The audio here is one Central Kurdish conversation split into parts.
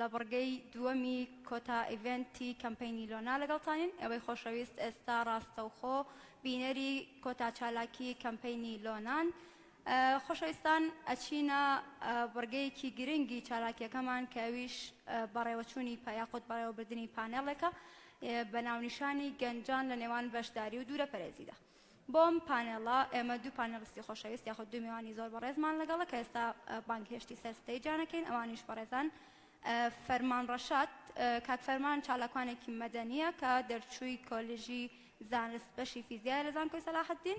لە بڕگەی دووەمی کۆتا ئیڤێنتی کەمپەینی لۆنا لەگەڵتانین ئێوەی خۆشەویست ئێستا ڕاستەوخۆ بینەری کۆتا چالاکی کەمپەینی لۆنان خۆشەویستان ئەچینە بڕگەیەکی گرنگی چالاکیەکەمان کە ئەویش بەڕێوەچوونی پا یاخود بەڕێوەبردنی پانێڵێکە بە ناونیشانی گەنجان لە نێوان بەشداری و دوورە پەرێزیدا بۆم پانێڵە ئێمە دوو پانێڵستی خۆشەویست یاخود دوو میوانی زۆر بەڕێزمان لەگەڵە کە ئێستا بانگهێشتی سەر ستەیجانەکەین ئەوانیش بەڕێزان فەرمان ڕەشاد کاک فەرمان چالاکوانێکی مەدەنیە کە دەرچووی کۆلیژی زانست بەشی فیزیای لە زانکۆی سەلاحەدین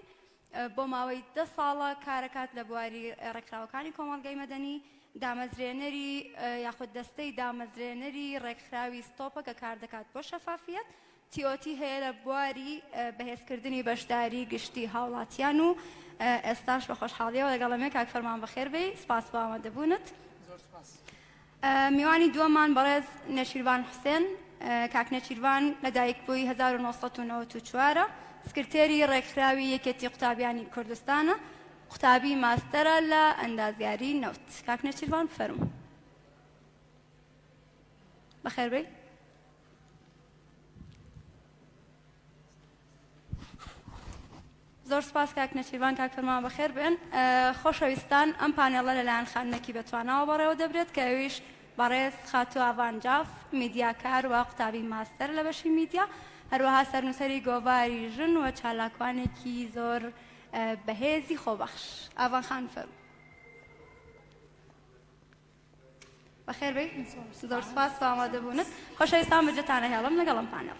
بۆ ماوەی دە ساڵە کارەکات لە بواری ڕێکخراوەکانی کۆمەڵگەی مەدەنی دامەزرێنەری یاخود دەستەی دامەزرێنەری ڕێکخراوی ستۆپە کە کار دەکات بۆ شەفافیت تیۆتی هەیە لە بواری بەهێزکردنی بەشداری گشتی هاوڵاتیان و ئێستاش بە خۆشحاڵیەوە لەگەڵەمێ کاک فەرمان بەخێر بێی سپاس بۆ ئامادەبوونت. زۆر سپاس. میوانی دووەممان بەڕێز نێچیرڤان حوسێن کاک نێچیرڤان لەدایکبووی هەزار و نۆ سەد و نەوەد و چوار ە، سکرتێری ڕێکخراوی یەکێتی قوتابیانی کوردستانە، قوتابی ماستەرە لە ئەندازیاری نەوت. کاک نێچیرڤان فەرموو. بەخێربێی. زۆر سپاس کاک نەچیربان کاک فرمان بەخێر بێن خۆشەویستان ئەم پانێڵە لەلایەن خانمێکی بەتواناوە بەڕێوە دەبرێت کە ئەویش بەڕێز خاتو ئاڤان جاف میدیاکار و قوتابی ماستەر لە بەشی میدیا هەروەها سەرنووسەری گۆڤاری ژن و چالاکوانێکی زۆر بەهێزی خۆبەخش ئاڤان خان فەرموو بەخێر بێی زۆر سپاس بۆ ئامادەبوونت خۆشەویستان بەجێتانە هێڵم لەگەڵم پانەڵ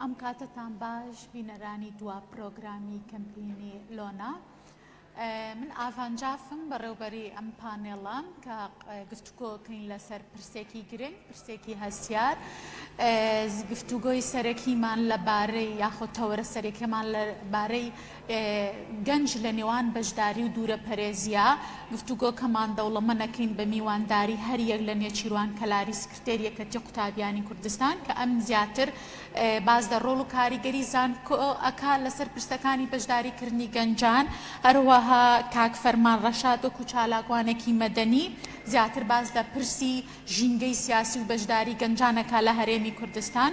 ئەم کاتتان باش بینەرانی دوا پرۆگرامی کەمپینی لۆنا من ئاڤان جافم بەڕێوبەری ئەم پانێڵە کە گفتوگۆ کەین لەسەر پرسێکی گرنگ پرسێکی هەستیار گفتوگۆی سەرەکیمان لە بارەی یاخۆ تەوەرە سەرەکەمان لە بارەی گەنج لە نێوان بەشداری و دوورە پەرێزیە گفتوگۆکەمان دەوڵەمە نەکەین بە میوانداری هەریەک لە نێچیروان کەلاریس دەر یەکەتی قوتابیانی کوردستان کە ئەم زیاتر باس دە ڕۆڵ و کاریگەری زانکۆ ئەکا لەسەر پرسەکانی بەشداری کردنی گەنجان هەروەها کاک فەرمان ڕەشاد وەکو چالاکوانێکی مەدەنی زیاتر باس لە پرسی ژینگەی سیاسی و بەشداری گەنجان ئەکا لە هەرێمی کوردستان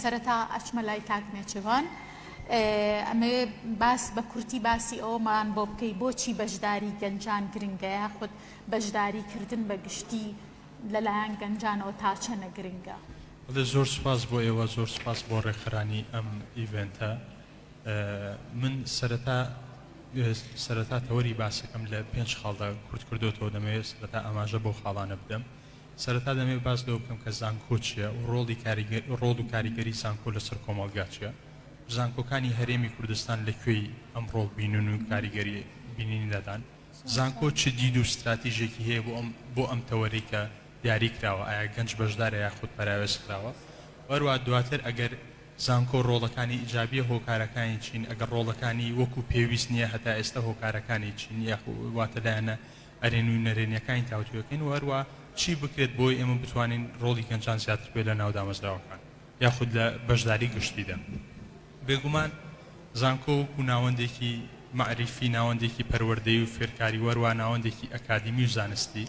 سەرەتا ئەچمە لای کاک نێچیرڤان ئەمەوێ باس بە کورتی باسی ئەوەمان بۆ بکەی بۆچی بەشداری گەنجان گرنگە یاخود بەشداری کردن بە گشتی لەلایەن گەنجانەوە تاچەنە گرنگە؟ بەڵێ زۆر سوپاس بۆ ئێوە زۆر سوپاس بۆ ڕێکخەرانی ئەم ئیڤێنتە من سەرەتا سەرەتا تەوەری باسەکەم لە پێنج خاڵدا کورت کردۆتەوە دەمەوێت سەرەتا ئاماژە بەو خاڵانە بدەم. سەرەتا دەمەوێت باس لەوە بکەم کە زانکۆ چییە و ڕۆڵی کاریگەر ڕۆڵ و کاریگەری زانکۆ لەسەر کۆمەڵگا چییە و زانکۆکانی هەرێمی کوردستان لە کوێی ئەم ڕۆڵ بینون و کاریگەری بینینی لادان؟ زانکۆ چ دید و ستراتیژێکی هەیە بۆ ئەم بۆ ئەم تەوەرەی کە دیاری کراوە؟ ئایا گەنج بەشدارە یاخود پەراوێز خراوە؟ و هەروەها دواتر ئەگەر زانکۆ ڕۆڵەکانی ئیجابییە هۆکارەکانی چین؟ ئەگەر ڕۆڵەکانی وەکو پێویست نییە هەتا ئێستا هۆکارەکانی چین یاخو واتە لایەنە ئەرێنی و نەرێنیەکانی تاوتوێکەین و هەروەها چی بکرێت بۆی ئێمە بتوانین ڕۆڵی گەنجان زیاتر بێت لە ناو دامەزراوەکان یاخود لە بەشداری گشتیدا. بێگومان زانکۆ وەکو ناوەندێکی مەعریفی، ناوەندێکی پەروەردەیی و فێرکاری و هەروەها ناوەندێکی ئەکادیمی و زانستی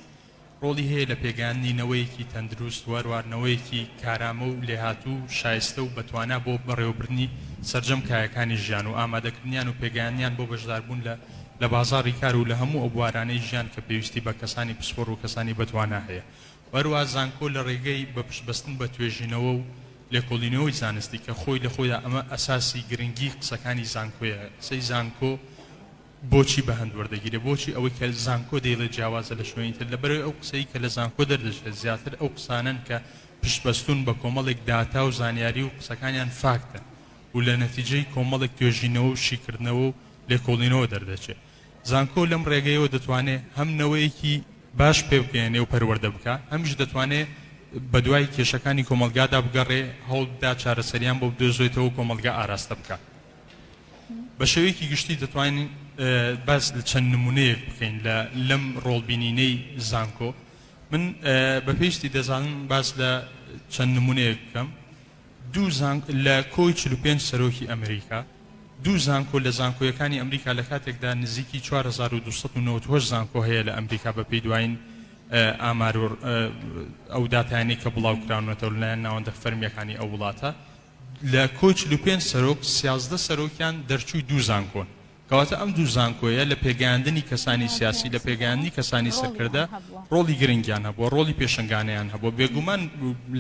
ڕۆڵی هەیە لە پێگەیاندنی نەوەیەکی تەندروست و هەروەها نەوەیەکی کارامە و لێهاتوو و شایستە و بەتوانا بۆ بەڕێوەبردنی سەرجەم کایەکانی ژیان و ئامادەکردنیان و پێگەیاندنیان بۆ بەشداربوون لە لە بازاڕی کار و لە هەموو ئەو بوارانەی ژیان کە پێویستی بە کەسانی پسپۆڕ و کەسانی بەتوانا هەیە و هەروەها زانکۆ لە ڕێگەی بە پشتبەستن بە توێژینەوە و لێکۆڵینەوەی زانستی کە خۆی لە خۆیدا ئەمە ئەساسی گرنگی قسەکانی زانکۆیە قسەی زانکۆ بۆچی بەهەند وەردەگیرێت بۆچی ئەوەی کە زانکۆ دەیڵێت جیاوازە لە شوێنی تر لەبەرئەوەی ئەو قسەی کە لە زانکۆ دەردەچێت زیاتر ئەو قسانەن کە پشتبەستون بە کۆمەڵێک داتا و زانیاری و قسەکانیان فاکتن و لە نەتیجەی کۆمەڵێک توێژینەوە و شیکردنەوە و لێکۆڵینەوە دەردەچێ زانکۆ لەم ڕێگەیەوە دەتوانێ هەم نەوەیەکی باش پێبگەیەنێ و پەروەردە بکا، هەمیش دەتوانێ بەدوای کێشەکانی کۆمەڵگادا بگەڕێ، هەوڵبدا چارەسەریان بۆ بدۆزێتەوە و کۆمەڵگا ئاراستە بکا. بە شێوەیەکی گشتی دەتوانین باس لە چەند نمونەیەک بکەین لە لەم ڕۆڵبینینەی زانکۆ، من بە پێویستی دەزانم باس لە چەند نمونەیەک بکەم، دوو زانکۆ لە کۆی چل و پێنج سەرۆکی ئەمریکا دوو زانکۆ لە زانکۆیەکانی ئەمریکا لە کاتێکدا نزیکی چوار هەزار و دوو سەد و نەوەد و هەشت زانکۆ هەیە لە ئەمریکا بە پێی دوایین ئامار و ئەو داتایانەی کە بڵاو کراونەتەوە لە لایەن ناوەندە فەرمییەکانی ئەو وڵاتە لە کۆی چل و پێنج سەرۆک سیازدە سەرۆکیان دەرچووی دوو زانکۆن کەواتە ئەم دوو زانکۆیە لە پێگەیاندنی کەسانی سیاسی، لە پێگەیاندنی کەسانی سەرکردە ڕۆڵی گرنگیان هەبووە، ڕۆڵی پێشەنگانەیان هەبووە. بێگومان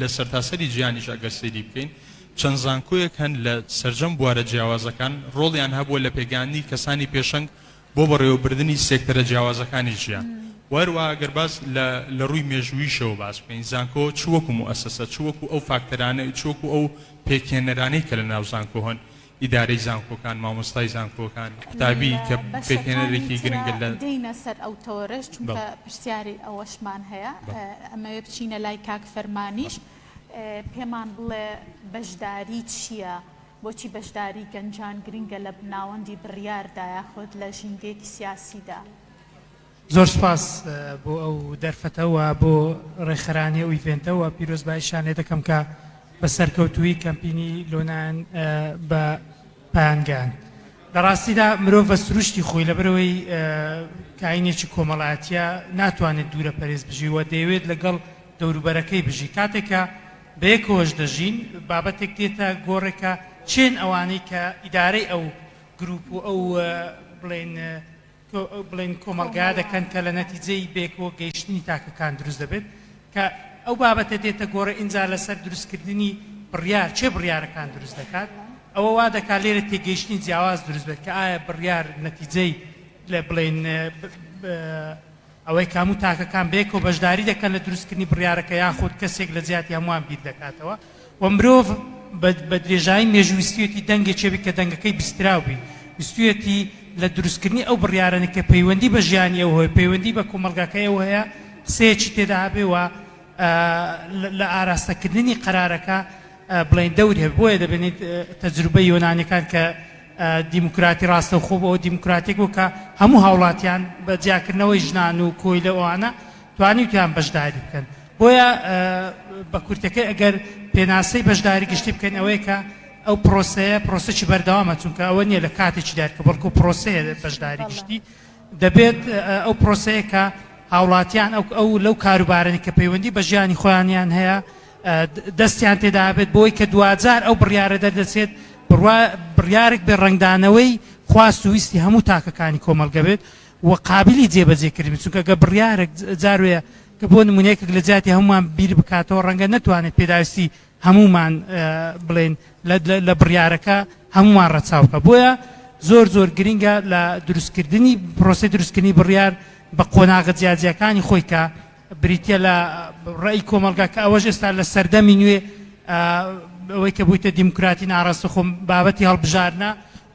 لە سەرتاسەری جیهانیش ئەگەر سەیری بکەین چەند زانکۆیەک هەن لە سەرجەم بوارە جیاوازەکان ڕۆڵیان هەبووە لە پێگەیاندنی کەسانی پێشەنگ بۆ بەڕێوەبردنی سێکتەرە جیاوازەکانی ژیان و هەروەها ئەگەر باس لە لە ڕووی مێژووییشەوە باس بکەین زانکۆ چ وەکو موئەسەسە چ وەکو ئەو فاکتەرانە چ وەکو ئەو پێکهێنەرانەی کە لەناو زانکۆ هەن ئیدارەی زانکۆکان، مامۆستای زانکۆکان، قوتابی کە پێکهێنەرێکی گرنگە لە. دێینە سەر ئەو تەوەرەش چونکە پرسیاری ئەوەشمان هەیە ئەمەوێ بچینە لای کاک فەرمانیش پێمان بڵێ بەشداری چییە؟ بۆچی بەشداری گەنجان گرنگە لە ناوەندی بڕیاردایە خۆت لە ژینگەیەکی سیاسیدا؟ زۆر سوپاس بۆ ئەو دەرفەتە وە بۆ ڕێکخەرانی ئەو ئیڤێنتە وە پیرۆزبایی شانێ دەکەم کە بە سەرکەوتوویی کەمپینی لۆنان بە پایان گەیاند. لە ڕاستیدا مرۆڤ بە سروشتی خۆی لەبەرئەوەی کاینێکی کۆمەڵایەتییە ناتوانێت دوورە پەرێز بژی وە دەیەوێت لەگەڵ دەوروبەرەکەی بژی کاتێک کە بەیەکەوەش دەژین بابەتێک دێتە گۆڕێ کە چێن ئەوانەی کە ئیدارەی ئەو گروپ و ئەو بڵێن بڵێن کۆمەڵگا دەکەن کە لە نەتیجەی بەیەکەوە گەیشتنی تاکەکان دروست دەبێت کە ئەو بابەتە دێتە گۆڕێ ئینجا لەسەر دروست کردنی بڕیار چێ بڕیارەکان دروست دەکات ئەوە وا دەکات لێرە تێگەیشتنی جیاواز دروست بێت کە ئایا بڕیار نەتیجەی لە بڵێن ئەوەی کە هەموو تاکەکان بەیەکەوە بەشداری دەکەن لە دروستکردنی بڕیارەکە یاخود کەسێک لە جیاتی هەمووان بیر دەکاتەوە و مرۆڤ بە درێژایی مێژوو ویستویەتی دەنگێکی هەبێت کە دەنگەکەی بیستراو بی ویستویەتی لە دروستکردنی ئەو بڕیارانە کە پەیوەندی بە ژیانی ئەو هەیە پەیوەندی بە کۆمەڵگاکەی ئەو هەیە قسەیەکی تێدا هەبێ و لە ئاراستەکردنی قەرارەکە بڵێن دەوری هەبێ بۆیە دەبێنیت تەجروبەی یۆنانیەکان کە دیموکراتی ڕاستەوخۆ بۆ دیموکراتێک بوو کە هەموو هاوڵاتیان بە جیاکردنەوەی ژنان و کۆیلە ئەوانە توانیوتیان بەشداری بکەن بۆیە بە کورتەکەی ئەگەر پێناسەی بەشداری گشتی بکەین ئەوەیە کە ئەو پرۆسەیە پرۆسەی بەردەوامە چونکە ئەوە نییە لە کاتێکی دارکە بەڵکو پرۆسەیە بەشداری گشتی دەبێت ئەو پرۆسەیە کە هاوڵاتیان ئەو ئەو لەو کاروبارەی کە پەیوەندی بە ژیانی خۆیانیان هەیە دەستیان تێدابێت بۆی کە دوجار ئەو بڕیارە دەردەچێت بڕیارێک بێ ڕنگدانەوەی خواست و ویستی هەموو تاکەکانی کۆمەلگە بێت و قابلی جێبەجێکردن چونکە گە بڕیارێک جاروێ کە بۆ نمونەیەکێک لە جیاتی هەمومان بیر بکاتەوە ڕەنگە نتوانێت پێداویستی هەموومان بڵێین لە بڕیارەکە هەموومان ڕەچاو بکە بۆیە زۆر زۆر گرنگە لە دروستکردنی پرۆسی دروستکردنی بڕیار بە قۆناغە جیاجیاکانی خۆی کە بریتە لە ڕێی کۆمەلگا کە ئەوەش ئێستا لە سەردەمی نوێ ئەوەی کە بوویتە دیموکراتی ناڕاستە خۆم بابەتی هەڵبژارنە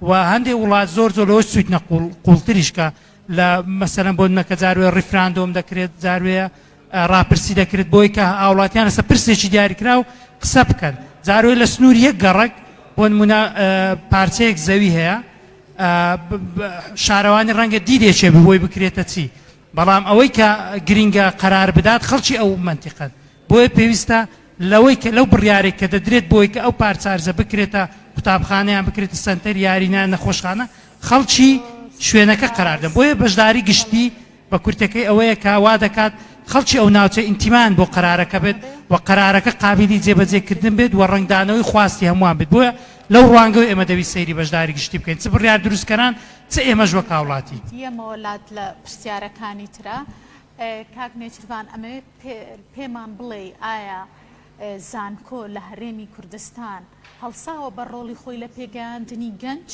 و هەندێک وڵات زۆر زۆر لەوە سویت نەقول قوڵتریشکە لە مەسەرم بۆ نەکە جاروێ ڕیفراندۆم دەکرێت جاروێە ڕاپرسی دەکرد بۆی کە هاوڵاتیان لەسە پرسێکی دیاریکراو قسە بکەن جارۆی لە سنوور یەک گەڕک بۆن منە پارچەیەک زەوی هەیە شارەوانی ڕەنگە دیدێکێ بۆی بکرێتە چی بەڵام ئەوەی کە گرینگە قەرار بدات خەڵکی ئەو منتیقەت بۆیە پێویستە لەوەی کە لەو بڕیارێک کە دەدرێت بۆی کە ئەو پارچارزە بکرێتە قوتابخانەیان بکرێت سنتەر یارینە نەخۆشخانە خەڵکی شوێنەکە قەراردە بۆیە بەشداری گشتی بە کورتەکەی ئەوەیە کە وا دەکات خەڵکی ئەو ناوچە ئینتیمایان بۆ قەرارەکە بێت و قەرارەکە قابیلی جێبەجێ کردن بێت و ڕەنگدانەوەی خواستی هەمووان بێت بۆیە لەو ڕوانگەوە ئێمە دەویست سەیری بەشداری گشتی بکەین چ بڕیار دروستکەران چ ئێمەش وەک هاوڵاتی. یەمەوە لات لە پرسیارەکانی ترا. کاک نێچیرڤان ئەمەوێت پێمان بڵێی ئایا زانکۆ لە هەرێمی کوردستان هەڵساوە بەر ڕۆڵی خۆی لە پێگەیاندنی گەنج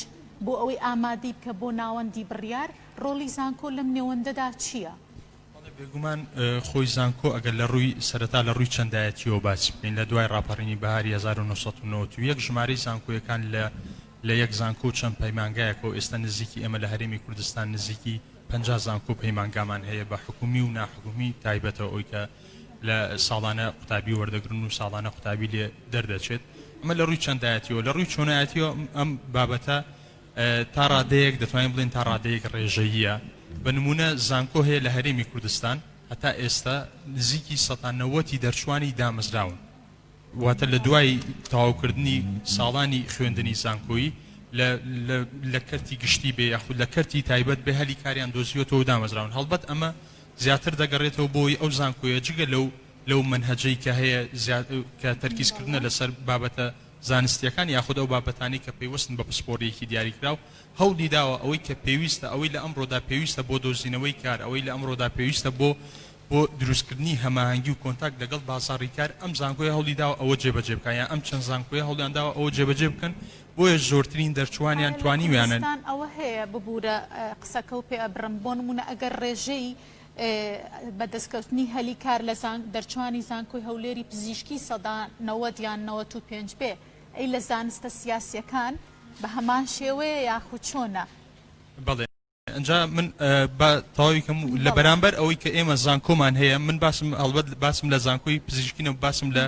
بۆ ئەوەی ئامادەی بکە بۆ ناوەندی بڕیار؟ ڕۆڵی زانکۆ لەم نێوەندەدا چییە؟ بەڵێ بێگومان خۆی زانکۆ ئەگەر لە ڕووی سەرەتا لە ڕووی چەندایەتییەوە باسی بکەین لە دوای ڕاپەڕینی بەهاری هەزار و نۆ سەد و نەوەد و یەک ژمارەی زانکۆیەکان لە لە یەک زانکۆ و چەند پەیمانگایەکەوە ئێستا نزیکی ئێمە لە هەرێمی کوردستان نزیکی پەنجا زانکۆ و پەیمانگامان هەیە بە حکوومی و ناحکوومی تایبەتە ئەوی کە لە ساڵانە قوتابی وەردەگرن و ساڵانە قوتابی لێ دەردەچێت ئەمە لە ڕووی چەندایەتیەوە لە ڕووی چۆنایەتیەوە ئەم بابەتە تا ڕادەیەک دەتوانین بڵێین تا ڕادەیەک ڕێژەییە، بە نموونە زانکۆ هەیە لە هەرێمی کوردستان هەتا ئێستا نزیکی سەتا نەوەتی دەرچووانی دامەزراون، واتە لە دوای تەواوکردنی ساڵانی خوێندنی زانکۆیی لە لە لە کەرتی گشتی بێ یاخود لە کەرتی تایبەت بێ هەلی کاریان دۆزیوەتەوە و دامەزراون، هەڵبەت ئەمە زیاتر دەگەڕێتەوە بۆ ئەو زانکۆیە جگە لەو لەو مەنهەجەی کە هەیە زیا کە تەرکیزکردنە لەسەر بابەتە زانستییەکان یاخود ئەو بابەتانەی کە پەیوەستن بە پسپۆڕییەکی دیاریکراو، هەوڵی داوە ئەوەی کە پێویستە، ئەوەی لە ئەمڕۆدا پێویستە بۆ دۆزینەوەی کار، ئەوەی لە ئەمڕۆدا پێویستە بۆ بۆ دروستکردنی هەماهەنگی و کۆنتاکت لەگەڵ بازاڕی کار، ئەم زانکۆیە هەوڵی داوە ئەوە جێبەجێ بکات یان ئەم چەند زانکۆیە هەوڵیان داوە ئەوە جێبەجێ بکەن، بۆیە زۆرترین دەرچووانیان توانیویانە. ئایا لە کوردستان ئەوە هەیە؟ ببوورە قسەکە و پێ ئەبڕم، بۆ نموونە ئەگەر ڕێژەی. بە دەستکەوتنی هەلی کار لە زانک دەرچوانی زانکۆی هەولێری پزیشکی سەدا نەوەد یان نەوەت و پێنج بێ ئەی لە زانستە سیاسیەکان بە هەمان شێوەیە یاخو چۆنە؟ بەڵێ ئەنجا من با تەواوی کەم و لە بەرامبەر ئەوەی کە ئێمە زانکۆمان هەیە من باسم هەڵبەت باسم لە زانکۆی پزیشکینە باسم لە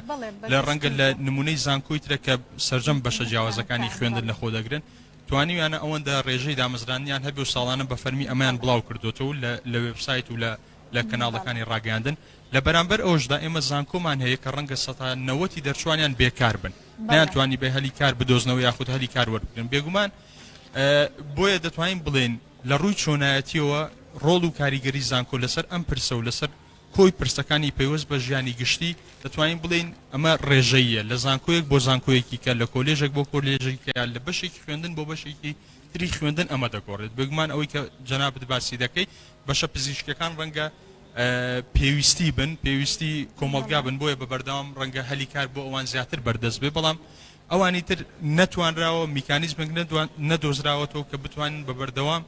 لە ڕەنگە لە نمونەی زانکۆی ترە کە سەرجەم بەشە جیاوازەکانی خوێندن لە خۆ دەگرن توانیویانە ئەوەندە رێژەی دامەزراندنیان هەبێ و ساڵانە بە فەرمی ئەمەیان بڵاو کردۆتەوە و لە وێبسایت و لە کەناڵەکانی راگەیاندن، لە بەرامبەر ئەوەشدا ئێمە زانکۆمان هەیە کە رەنگە سەتا نەوەتی دەرچووانیان بێکار بن، نەیانتوانیبێ هەلی کار بدۆزنەوە یاخود هەلی کار وەربگرن، بێگومان بۆیە دەتوانین بڵێین لە رووی چۆنایەتییەوە رۆڵ و کاریگەری زانکۆ لەسەر ئەم پرسە و لەسەر کۆی پرسەکانی پەیوەست بە ژیانی گشتی، دەتوانین بڵێین ئەمە ڕێژەییە، لە زانکۆیەک بۆ زانکۆیەکی کە، لە کۆلێژێک بۆ کۆلێژێکی کە، لە بەشێکی خوێندن بۆ بەشێکی تری خوێندن ئەمە دەگۆڕێت، بێگومان ئەوەی کە جەنابت باسی دەکەیت بەشە پزیشکیەکان ڕەنگە پێویستی بن، پێویستی کۆمەڵگا بن بۆیە بە بەردەوام ڕەنگە هەلی کار بۆ ئەوان زیاتر بەردەست بێت، بەڵام ئەوانی تر نەتوانراوە میکانیزمێک نەدۆزراوەتەوە کە بتوانن بە بەردەوام.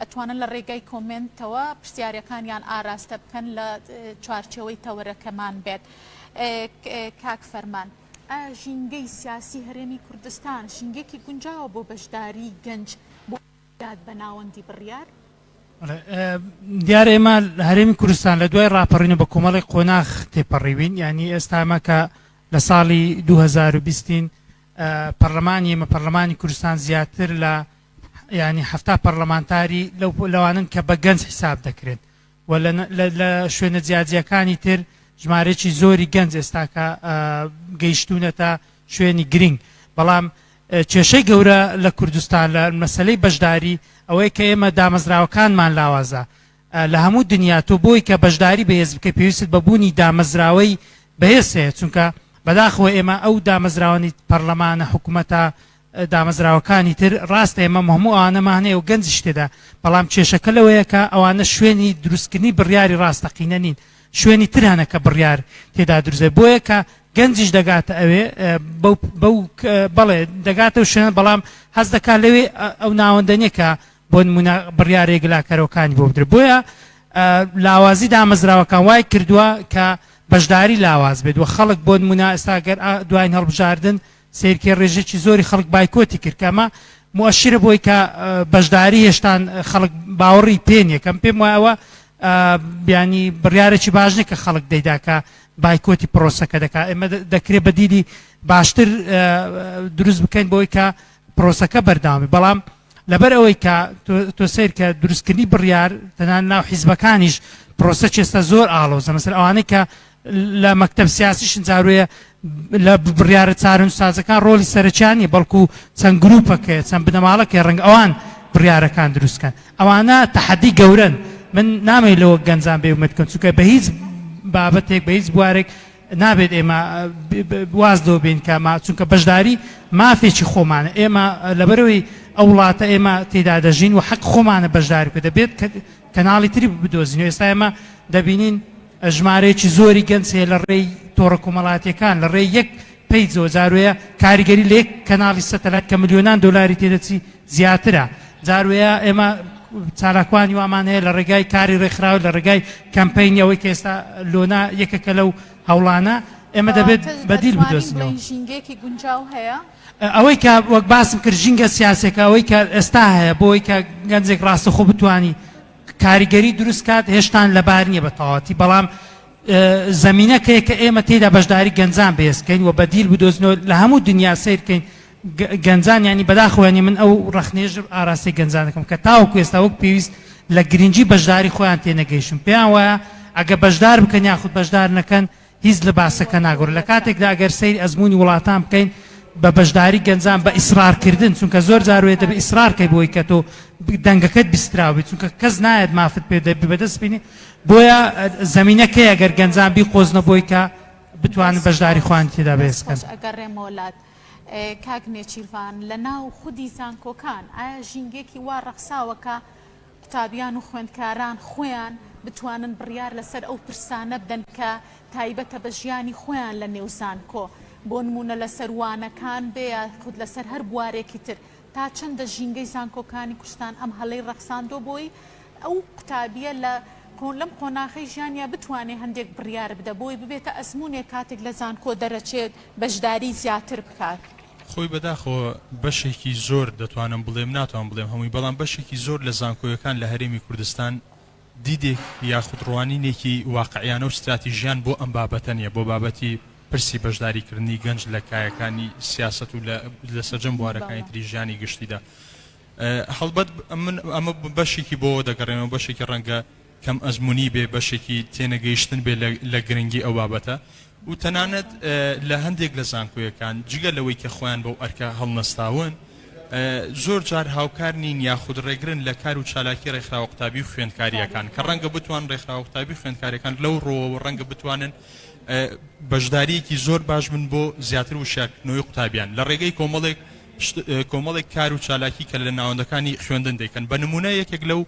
ئەتوانن لە ڕێگای کۆمێنتەوە پرسیارەکانیان ئاراستە بکەن لە چوارچێوەی تەوەرەکەمان بێت. کاک فەرمان ئایا ژینگەی سیاسی هەرێمی کوردستان ژینگەیەکی گونجاوە بۆ بەشداری گەنج بۆ داد بە ناوەندی بڕیار؟ دیارە ئێمە لە هەرێمی کوردستان لە دوای ڕاپەڕین و بە کۆمەڵێک قۆناخ تێپەڕیوین یانی ئێستا ئەمە کە لە ساڵی دوو هەزار و بیست ین پەڕلەمانی ئێمە پەڕلەمانی کوردستان زیاتر لە یانی حەفتا پەڕلەمانتاری لەو لەوانەن کە بە گەنج حیساب دەکرێن و لە شوێنە جیاجیەکانی تر ژمارێکی زۆری گەنج ئێستاکە گەیشتونەتە شوێنی گرنگ بەڵام کێشەی گەورە لە کوردستان لە مەسلەی بەشداری ئەوەی کە ئێمە دامەزراوەکانمان لاوازە لە هەموو دنیا تۆ بۆی کە بەشداری بەهێز بکە پێویست بە بوونی دامەزراوەی بەهێز هەیە چونکە بەداخەوە ئێمە ئەو دامەزراوانی پەرلەمانە حکوومەتە دامەزراوەکانی تر، ڕاستە ئێمە هەموو ئەوانەمان هەیە و گەنجیش تێدا، بەڵام کێشەکە لەوەیە کە ئەوانە شوێنی دروستکردنی بڕیاری ڕاستەقینە نین، شوێنی تر هەنە کە بڕیار تێدا دروست دەبێت، بۆیە کە گەنجیش دەگاتە ئەوێ، بەو بەڵێ دەگاتە ئەو شوێنە بەڵام هەست دەکات لەوێ ئەو ناوەندە نییە کە بۆ نموونە بڕیارە یەکلاکەرەوەکانی بۆ بدرێت، بۆیە لاوازی دامەزراوەکان وای کردووە کە بەشداری لاواز بێت و خەڵک بۆ نموونە ئێستا گەر دواین هەڵبژاردن، سەیرکە ڕێژەکی زۆری خەڵک بایکۆتی کرد کە ئەمە موەشیرە بۆی کە بەشداری هێشتان خەڵک باوەڕی پێ نیە کەم پێم وایە ئەوە بیانی بڕیارێکی باش نیە کە خەڵک دەیدا کە بایکۆتی پرۆسەکە دەکات ئێمە دەکرێت بەدیلی باشتر دروست بکەین بۆی کە پرۆسەکە بەرداوامی بەڵام لەبەر ئەوەی کە تۆ سیر کە دروستکردنی بڕیار تەنان ناو حیزبەکانیش پرۆسە چێستە زۆر ئاڵۆزە مەسەر ئەوانەی کە لە مەکتەب سیاسی شنجاروێ لە بڕیارە چارەنوسسازەکان ڕۆڵی سەرەکیان نیە بەڵکو چەند گروپەکەیە چەند بنەماڵەکەی ڕەنگ ئەوان بڕیارەکان دروستکەن ئەوانە تەحەدی گەورەن من نامەی لەوە گەنجان بێ ومێد کەم چونکە بە هیچ بابەتێک بە هیچ بوارێک نابێت ئێمە واز لەوە بین کە ما چونکە بەشداری مافێکی خۆمانە ئێمە لەبەرەوەی ئەو وڵاتە ئێمە تێدا دەژین و حەق خۆمانە بەشداری بکە دەبێت کەناڵی تری بدۆزین و ئێستا ئێمە دەبینین ژمارەیەکی زۆری گەنج هەیە لە ڕێی تۆڕە کۆمەڵاتیەکان لە ڕێی یەک پەیجەوە جاروەیە کاریگەری لە یەک کەناڵی سەتەلایت کە ملیۆنان دۆلاری تێدەچی زیاترە جاروەیە ئێمە چالاکوانی وامان هەیە لە ڕێگای کاری ڕێکخراوە لە ڕێگای کەمپینی ئەوەی کە ئێستا لۆنا یەکەکە لەو هەوڵانە ئێمە دەبێت بەدیل بدۆزینەوە ژینگەیەکی گونجاو هەیە ئەوەی کە وەک باسم کرد ژینگە سیاسەکە ئەوەی کە ئێستا هەیە بۆی کە گەنجێک ڕاستەخۆ بتانی کاریگەری دروست کات هێشتان لەبار نیە بەتەواوەتی بەڵام زەمینەکەیە کە ئێمە تێدا بەشداری گەنجان بەهێز کەین و بەدیل بدۆزنەوە لە هەموو دنیا سیر کەین گەنجان ینی بەداخوێنی من ئەو ڕخنێژ ئاراسی گەنجانەکەم کە تاوەکو ئێستا وەک پێویست لە گرنگی بەشداری خۆیان تێنەگەیشتن پێیان وایە ئەگە بەشدار بکەن یاخود بەشدار نەکەن هیچ لە باسەکە ناگۆڕێت لە کاتێکدا گەر سەیری ئەزموونی وڵاتان بکەین بە بەشداری گەنجان بە ئیسرارکردن چونکە زۆر جار وێ دەبێت ئیسرار کەی بۆی کە تۆ دەنگەکەت بیستراو بێت چونکە کەس نایەت مافت پێ دەبی بەدەست بینی بۆیە زمینەکەیە گەر گەنجان بی قۆزنە بۆی کە بتوانن بەشداری خوان تێدا بێزکەن ئەگەڕێمۆلات کاک نێچیرڤان لە ناو خودی زانکۆکان ئایا ژینگێکی وا ڕەخساوەکە قوتابیان و خوێندکاران خۆیان بتوانن بڕیار لەسەر ئەو پرسانە بدەن کە تایبەتە بە ژیانی خۆیان لە نێو زانکۆ، بۆ نموونە لەسەر وانەکان بێ یا خود لەسەر هەر بوارێکی تر، تا چەندە ژینگەی زانکۆکانی کوردستان ئەم هەلەی ڕەخساندووە بۆی ئەو قوتابییە لە لەم قۆناخەی ژیانیا بتوانێ هەندێک بڕیار بدە بۆی ببێتە ئەزموونێک کاتێک لە زانکۆ دەرەچێت بەشداری زیاتر بکات. خۆی بەداخەوە بەشێکی زۆر دەتوانم بڵێم ناتوانم بڵێم هەمووی بەڵام بەشێکی زۆر لە زانکۆیەکان لە هەرێمی کوردستان دیدێک یاخود ڕوانینێکی واقعیانە و ستراتیژیان بۆ ئەم بابەتە نیە بۆ بابەتی پرسی بەشداری کردنی گەنج لە کایەکانی سیاسەت و لە لە سەرجەم بوارەکانی تری ژیانی گشتیدا هەڵبەت من ئەمە بەشێکی بۆ دەگەڕێنەوە بەشێکی ڕەنگە کەم ئەزموونی بێ، بەشێکی تێنەگەیشتن بێ لە گرنگی ئەو بابەتە و تەنانەت لە هەندێک لە زانکۆیەکان جگە لەوەی کە خۆیان بەو ئەرکە هەڵنەستاون زۆر جار هاوکار نین یاخود ڕێگرن لە کار و چالاکی ڕێکخراوە قوتابی و خوێندکارییەکان کە ڕەنگە بتوان ڕێکخراوە قوتابی خوێندکارەکان لەو ڕۆوەوە ڕەنگە بتوانن بەشداریەکی زۆر باش من بۆ زیاتر و شاکردنەوەی قوتابیان لە ڕێگەی کۆمەڵێک کۆمەڵێک کار و چالاکی کە لە ناوەندەکانی خوێندن دەکەن بە نمونە یەکێک لەو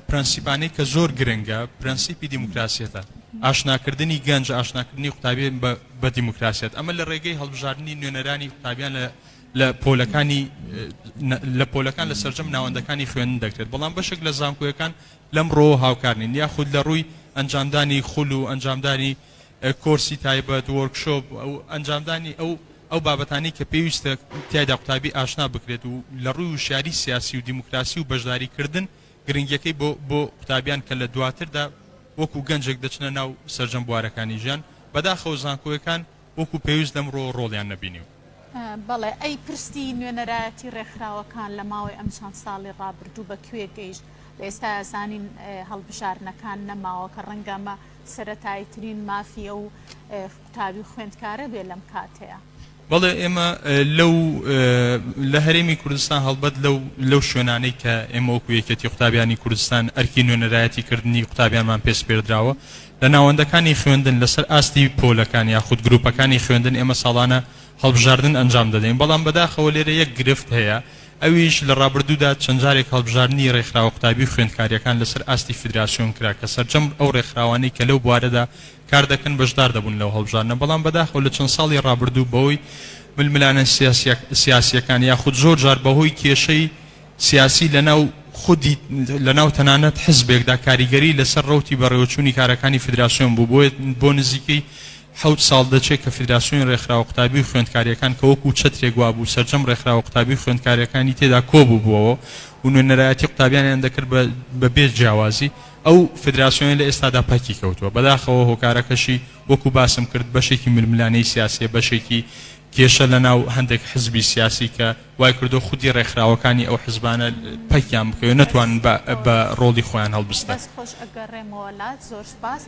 پرەنسیپانەی کە زۆر گرنگە پرەنسیپی دیموکراسیەتە، ئاشناکردنی گەنج، ئاشناکردنی قوتابیان بە دیموکراسیەت، ئەمە لە ڕێگەی هەڵبژاردنی نوێنەرانی قوتابیان لە پۆلەکانی لە پۆلەکان لە سەرجەم ناوەندەکانی خوێندن دەکرێت، بەڵام بەشێک لە زانکۆیەکان لەم ڕۆوە هاوکار نین یاخود لە ڕووی ئەنجامدانی خول و ئەنجامدانی کۆرسی تایبەت، وۆرکشۆپ، ئەنجامدانی ئەو ئەو بابەتانەی کە پێویستە تیایدا قوتابی ئاشنا بکرێت و لە ڕووی وشیاری سیاسی و دیموکراسی و بەشداریکردن گرنگیەکەی بۆ بۆ قوتابیان کە لە دواتردا وەکو گەنجێک دەچنە ناو سەرجەم بوارەکانی ژیان بەداخەوە زانکۆیەکان وەکو پێویست لەمڕۆوە ڕۆڵیان نەبینی و. بەڵێ ئەی پرسی نوێنەرایەتی ڕێکخراوەکان لە ماوەی ئەم چەند ساڵی ڕابردوو بە کوێ گەیشت؟ لە ئێستایا زانین هەڵبژاردنەکان نەماوە کە ڕەنگە ئەمە سەرەتاییترین مافی ئەو قوتابی و خوێندکارە بێ لەم کاتەیا. بەڵێ ئێمە لەو لە هەرێمی کوردستان هەڵبەت لەو لەو شوێنانەی کە ئێمە وەکو یەکێتی قوتابیانی کوردستان ئەرکی نوێنەرایەتی کردنی قوتابیانمان پێسپێردراوە لە ناوەندەکانی خوێندن لەسەر ئاستی پۆلەکان یاخود گروپەکانی خوێندن ئێمە ساڵانە هەڵبژاردن ئەنجام دەدەین بەڵام بەداخەوە لێرە یەک گرفت هەیە ئەویش لە ڕابردوودا چەند جارێک هەڵبژاردننی ڕێکخراوە قوتابی و خوێندکاریەکان لەسەر ئاستی فیدراسیۆن کرا کە سەرجەم ئەو ڕێکخراوانەی کە لەو بوارەدا کار دەکەن بەشدار دەبوون لەو هەڵبژاردنە، بەڵام بەداخەوە لە چەند ساڵی ڕابردوو بەهۆی ململانێ سیاسییەکان یاخود زۆر جار بەهۆی کێشەی سیاسی لەناو خودی لەناو تەنانەت حزبێکدا کاریگەری لەسەر ڕەوتی بەڕێوەچوونی کارەکانی فیدراسیۆن بوو بۆیە بۆ نزیکەی حەوت ساڵ دەچێت کە فیدراسیۆنی ڕێکخراوە قوتابی و خوێندکارییەکان کە وەکوو چەترێک وابوو سەرجەم ڕێکخراوە قوتابی و خوێندکارییەکانی تێدا کۆبووبووەوە و نوێنەرایەتی قوتابیانیان دەکرد بە بە بێ جیاوازی ئەو فیدراسیۆنە لە ئێستادا پەکی کەوتووە، بەداخەوە هۆکارەکەشی وەکو باسم کرد بەشێکی ململانێی سیاسیە بەشێکی کێشە لەناو هەندێک حزبی سیاسی کە وایکردووە خودی ڕێکخراوەکانی ئەو حزبانە پەکیان بکەوێت نەتوانن بە ڕۆڵی خۆیان هەڵبستن. دەست خۆش ئەگەڕێمەوە لات زۆر سوپاس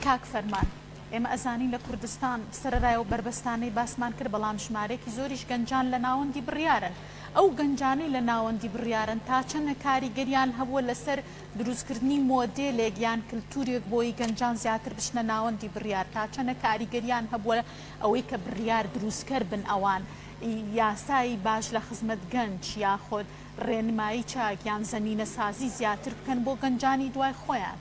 کاک فەرمان. ئێمە ئەزانین لە کوردستان سەرەرای ئەو بەربەستانەی باسمان کرد بەڵام ژمارەیەکی زۆریش گەنجان لە ناوەندی بڕیارن ئەو گەنجانەی لە ناوەندی بڕیارن تا چەنە کاریگەریان هەبووە لەسەر دروستکردنی مۆدێلێک یان کلتورێک بۆی گەنجان زیاتر بچنە ناوەندی بریار تا چەنە کاریگەریان هەبووە ئەوەی کە بریار دروستکەر بن ئەوان ی یاسای باش لە خزمەت گەنج یاخود رێنمایی چاک یان زەمینە سازی زیاتر بکەن بۆ گەنجانی دوای خۆیان.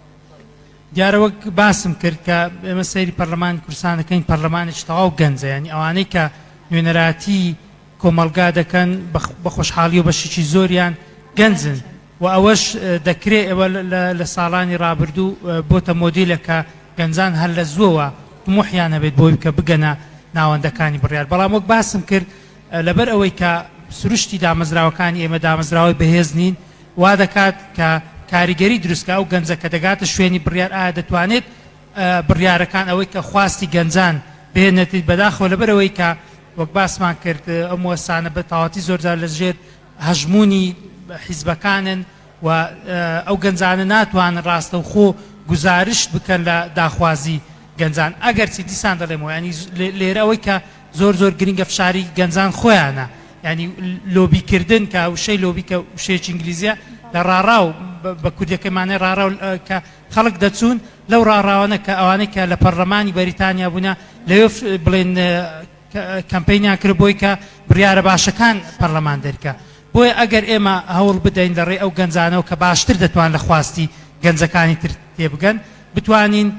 دیارە وەک باسم کرد کە ئێمە سەیری پەرلەمانی کوردستان دەکەین پەرلەمانێکی تەواو گەنجە یانی ئەوانەی کە نوێنەراتی. کۆمەڵگا دەکەن بە خۆشحاڵیەوە بەشێکی زۆریان گەنجن و ئەوەش دەکرێت ئێوە لە ساڵانی ڕابردوو بۆتە مۆدیلە کە گەنجان هەر لە زووەوە طموحیان هەبێت بۆی کە بگەنە ناوەندەکانی بڕیار بەڵام وەک باسم کرد لەبەر ئەوەی کە سروشتی دامەزراوەکانی ئێمە دامەزراوەی بەهێز نین وا دەکات کە کاریگەری دروستکە ئەو گەنجە کە دەگاتە شوێنی بڕیار ئایا دەتوانێت بڕیارەکان ئەوەی کە خواستی گەنجان بهێنێتیت بەداخەوە لەبەر ئەوەی کە وەک باسمان کرد ئەو موەسسانە بە تەواوەتی زۆر جار لە ژێر هەژموونی حیزبەکانن و ئەو گەنجانە ناتوانن ڕاستەوخۆ گوزارشت بکەن لە داخوازی گەنجان ئەگەرچی دیسان دەڵێمەوە یانی لێرە ئەوەی کە زۆر زۆر گرنگە فشاری گەنجان خۆیانە یانی لۆبی کردن کە وشەی لۆبی کە وشەیەکی ئینگلیزیە لە ڕاڕاو بە کوردەکەی مانای ڕاڕاو کە خەڵک دەچوون لەو ڕاڕاوانە کە ئەوانەی کە لە پەڕلەمانی بەریتانیا بوونە لەوێ بڵێن کەمپینیان کرد بۆی کە بڕیارە باشەکان پەڕلەمان دەرکە بۆیە ئەگەر ئێمە هەوڵ بدەین لە ڕێ ئەو گەنجانەوە کە باشتر دەتوان لە خواستی گەنجەکانی تر تێبگەن بتوانین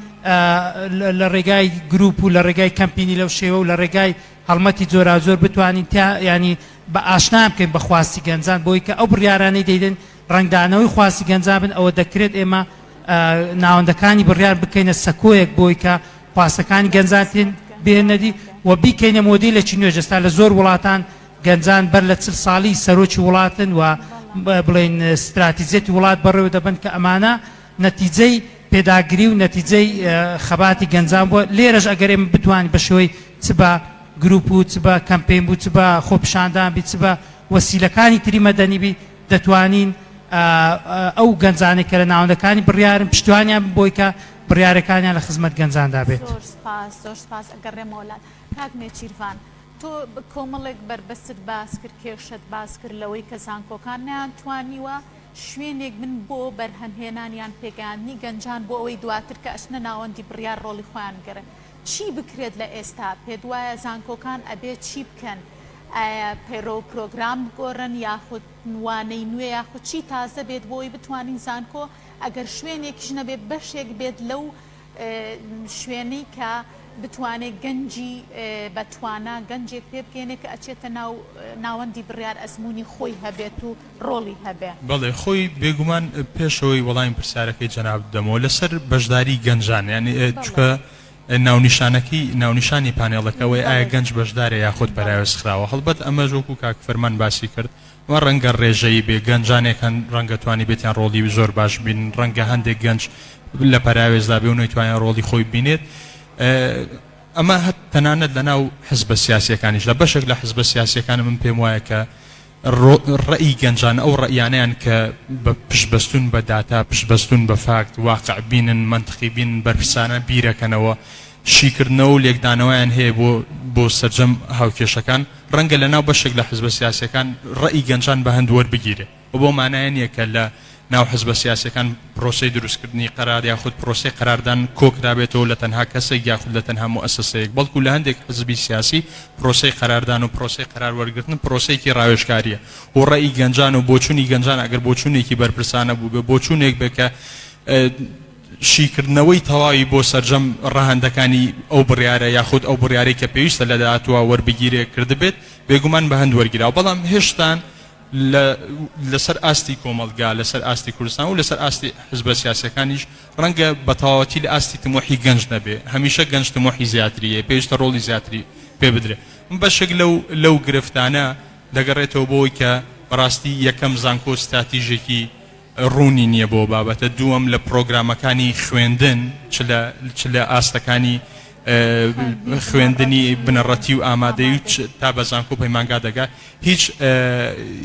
لە ڕێگای گروپ و لە ڕێگای کەمپینی لەو شێوە و لە ڕێگای هەڵمەتی جۆراوجۆر بتوانین تا ینی بە ئاشنام بکەین بە خواستی گەنجان بۆی کە ئەو بڕیارانەی دەیدن ڕەنگدانەوەی خواستی گەنجابن ئەوە دەکرێت ئێمە ناوەندەکانی بڕیار بکەینە سەکۆیەک بۆی کە خواستەکانی گەنجان تێن بێنەدی و بیکەینە مۆدیلێکی نوێژ ئێستا لە زۆر وڵاتان گەنجان بەر لە چل ساڵی سەرۆکی وڵاتن و بڵێن ستراتیزیەتی وڵات بەڕێوە دەبن کە ئەمانە نەتیجەی پێداگری و نەتیجەی خەباتی گەنجان بووە لێرەش ئەگەر ئێمە بتوانین بە شێوەی چ بە گروپ و چ بە کەمپین بوو چ بە خۆپیشاندان بی چ بە وەسیلەکانی تری مەدەنی بی دەتوانین ئەو گەنجانەی کە لە ناوەندەکانی بڕیارن پشتیوانیان بن بۆی کە بڕیارەکانیان لە خزمەت گەنجاندا بێت. زۆر سوپاس زۆر سوپاس ئەگەڕێمەوە لات کاک نێچیرڤان تۆ کۆمەڵێک بەربەستت باس کرد کێشەت باس کرد لەوەی کە زانکۆکان نەیانتوانیوە شوێنێک بن بۆ بەرهەم هێنان یان پێگەیاندنی گەنجان بۆ ئەوەی دواتر کە ئەچنە ناوەندی بڕیار ڕۆڵی خۆیان بگێڕن چی بکرێت لە ئێستا پێت وایە زانکۆکان ئەبێت چی بکەن ئایا پەیڕەو و پرۆگرام بگۆڕن یاخود وانەی نوێ یاخود چی تازە بێت بۆوەی بتوانین زانکۆ ئەگەر شوێنێکیش نەبێت بەشێک بێت لەو شوێنەی کە بتوانێت گەنجی بە توانا گەنجێک پێ بگەینێ کە ئەچێتە ناو ناوەندی بڕیار ئەزموونی خۆی هەبێت و ڕۆڵی هەبێ. بەڵێ خۆی بێگومان پێش ئەوەی وەڵامی پرسیارەکەی جەنابت بدەمەوە لەسەر بەشداری گەنجان یانی چونکە ناونیشانەکەی ناونیشانی پانێڵەکە ئەوەیە ئایا گەنج بەشدارە یاخود پەراوێزخراوە؟ هەڵبەت ئەمەش وەکو کاک فەرمان باسی کرد ئەمە ڕەنگە ڕێژەیی بێ گەنجانێک هەن ڕەنگە توانیبێتیان ڕۆڵی زۆر باش ببینن ڕەنگە هەندێک گەنج لە پەراوێزدا بێ و نەیتوانیان ڕۆڵی خۆی ببینێت ئەمە هەت تەنانەت لەناو حزبە سیاسیەکانیشدا بەشێک لە حزبە سیاسیەکان من پێم وایە کە ڕەئی گەنجان ئەو ڕەیانەیان کە بە پشتبەستون بە داتا، پشتبەستون بە فاکت، واقع بینن، مەنتقی بینن، بەرپرسانە بیرەکەنەوە، شیکردنەوەو لێکدانەوەیان هەیە بۆ بۆ سەرجەم هاوکێشەکان، ڕەنگە لە ناو بەشێک لە حزبە سیاسیەکان ڕەئی گەنجان بە هەند وەربگیرێ و بەو مانایە نیە کە لە ناو حزبە سیاسیەکان پرۆسەی دروستکردنی قەرار یاخود پرۆسەی قەراردان کۆکرابێتەوە لە تەنها کەسێک یاخود لە تەنها موئەسەسەیەک بەڵکو لە هەندێک حزبی سیاسی پرۆسەی قەراردان و پرۆسەی قەرار وەرگرتن پرۆسەیەکی راوێژکاریە بۆ رەئی گەنجان و بۆچونی گەنجان ئەگەر بۆچونێکی بەرپرسانە بوبێ بۆچونێک بێ کە شیکردنەوەی تەواوی بۆ سەرجەم ڕەهەندەکانی ئەو بڕیارە یاخود ئەو بڕیارەی کە پێویستە لە داهاتوە وەربگیرێ کردبێت بێگومان بە هەند وەرگیراو بەڵام هێشتان لە لە سەر ئاستی کۆمەڵگا، لە سەر ئاستی کوردستان و لە سەر ئاستی حزبە سیاسیەکانیش، ڕەنگە بە تەواوەتی لە ئاستی تموحی گەنج نەبێ، هەمیشە گەنج تموحی زیاتری هەیە، پێویستە ڕۆڵی زیاتری پێ بدرێ. بەشێک لەو لەو گرفتانە دەگەڕێتەوە بۆ ئەوەی کە بە ڕاستی یەکەم زانکۆ ستراتیژێکی ڕوونی نییە بۆ ئەو بابەتە، دووەم لە پڕۆگرامەکانی خوێندن چ لە چ لە ئاستەکانی خوێندنی بنەڕەتی و ئامادەی و تا بە زانکۆ پەیمانگا دەگا هیچ